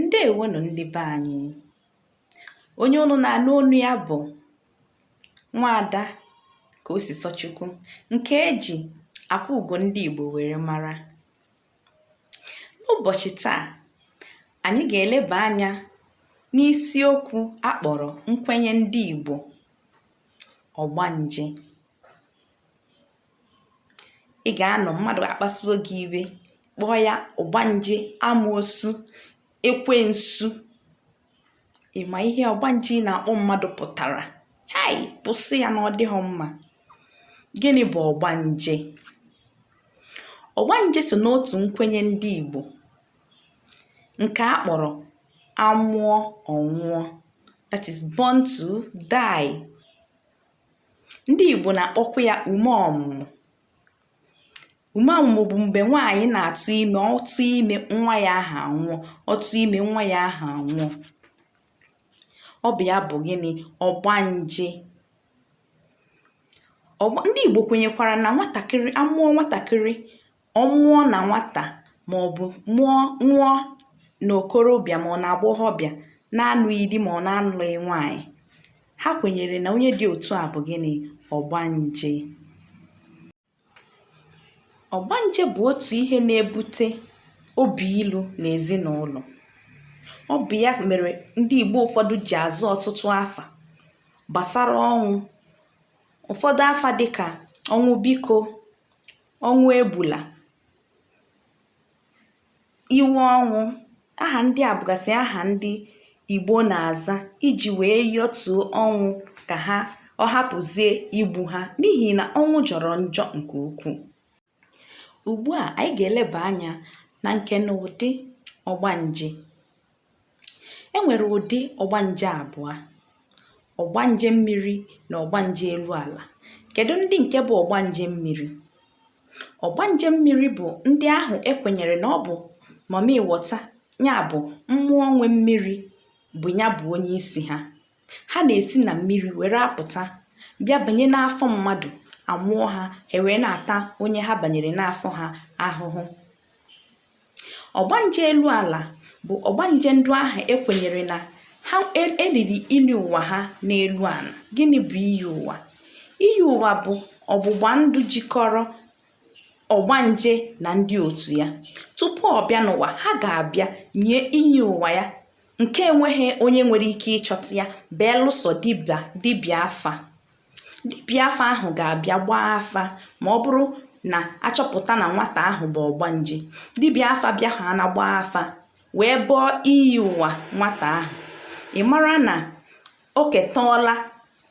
ǹdeèwo nụ̀ ndị be anyị onye ụnụ nà-ànụ onu ya bụ̀ nwaada Kosìsọchukwu ǹkè e jì Àkwaugò ndị ìgbò wère mara n'ụbọ̀chị̀ taa ànyị gà-èlebà anyā n'isi okwū a kpọ̀rọ̀ nkwenye ndị ìgbò ọ̀gbanje ị ga-anọ mmadụ akpasuo gị iwe kpọọ ya ọgbanje amoosu ekwensu ị ma ihe ọgbanje ị na-akpọ mmadụ pụtara hei kwụsị ya na ọ dịghị mma gịnị bụ ọgbanje ọgbanje so n'otu nkwenye ndị igbo nke a kpọrọ a mụọ ọ nwụọ that is born to die ndị Igbo na-akpọkwa ya ume ọmụmụ ume ọmụmụ bụ mgbe nwaanyị na-atụ ime ọ tụọ ime nwa ya ahụ anwụọ ọ tụọ ime nwa ya ahụ anwụọ ọ bụ ya bụ gịnị ọgbanje ndị Igbo kwenyekwara na nwatakịrị a mụọ nwatakịrị Ọ nwụọ na nwata ma ọ bụ nwụọ na okorobịa ma ọ na agbọghọbịa na-anụghị di ma ọ na-anụghị nwaanyị, ha kwenyere na onye dị otu a bụ gịnị? Ọgbanje. Ọgbanje bụ otu ihe na-ebute obi ilu n'ezinụlọ. Ọ bụ ya mere ndị Igbo ụfọdụ ji aza ọtụtụ afa gbasara ọnwụ. Ụfọdụ afa dịka ọnwụ biko, ọnwụ egbula iwe ọnwụ aha ndị a bụgasị aha ndị igbo na-aza iji wee yọtuo ọnwụ ka ha ọ hapụzie igbu ha n'ihi na ọnwụ jọrọ njọ nke ukwuu ugbu a anyị ga-eleba anya na nke na ụdị ọgbanje e nwere ụdị ọgbanje abụọ ọgbanje mmiri na ọgbanje elu ala kedu ndị nke bụ ọgbanje mmiri ọgbanje mmiri bụ ndị ahụ e kwenyere na ọ bụ mami wọta ya bụ mmụọ nwe mmiri bụ ya bụ onye isi ha Ha na-esi na mmiri were apụta bịa banye n'afọ mmadụ a mụọ ha ha ewee na-ata onye ha banyere n'afọ ha ahụhụ. Ọgbanje elu ala bụ ọgbanje ndị ahụ e kwenyere na ha e, e liri iyi ụwa ha n'elu ala. Gịnị bụ iyi ụwa? Iyi ụwa bụ ọgbụgba ndụ jikọrọ ọgbanje na ndị otu ya. Tupu ọ bịa n'ụwa, ha ga-abịa nye iyi ụwa ya nke enweghị onye nwere ike ịchọta ya belụsọ dibịa dibịa afa dibịa afa ahụ ga-abịa gbaa afa ma ọ bụrụ na a chọpụta na nwata ahụ bụ ọgbanje dibịa afa bịa ha na gbaa afa wee bọọ iyi ụwa nwata ahụ ị mara na o ketọọla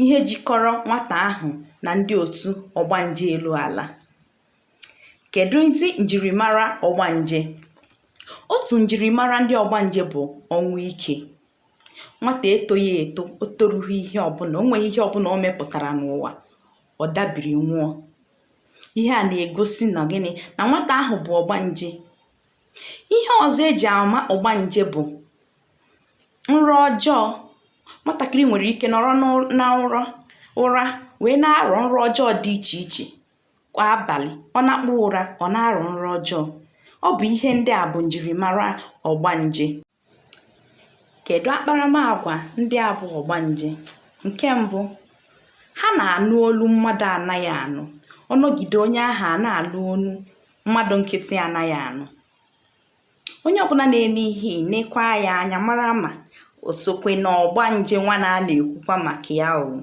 ihe jikọrọ nwata ahụ na ndị otu ọgbanje elu ala kèdụ ndị njìrìmara ọgbanje otù njìrìmara ndị ọgbanje bụ̀ ọnwụ ikė nwatà etoghị èto o toru̇ghị ihe ọbụlà o nwėghị ihe ọbụlà o mepụ̀tàrà n'ụwà ọ̀ dabìrì nwụọ ihe à nà-ègosi nà gịnị nà nwatà ahụ̀ bụ̀ ọgbanje ihe ọ̀zọ e jì àma ọgbanje bụ̀ nrọ ọjọọ nwatàkịrị nwèrè ike nọ̀rọ n'ụra wèe na-arọ̀ nrọ ọjọọ dị ichè ichè kwa abalị ọ nakpuo ụra ọ na-arọ nrọ ọjọọ ọ bụ ihe ndị a bụ njirimara ọgbanje kedu akparamagwa ndị a bụ ọgbanje nke mbụ ha na-anụ olu mmadụ anaghị anụ ọ nọgide onye ahụ a na-anụ olu mmadụ nkịtị anaghị anụ onye ọbụla na-eme ihe nekwa ya anya mara ma o sokwe na ọgbanje nwa na a na-ekwukwa maka ya o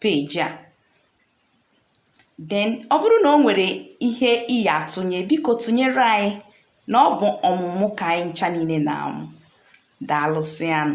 peji a then ọ bụrụ na o nwere ihe ị ya atụnye biko tụnyere anyị na ọ bụ ọmụmụ ka anyị ncha niile na-amụ daalụsịanụ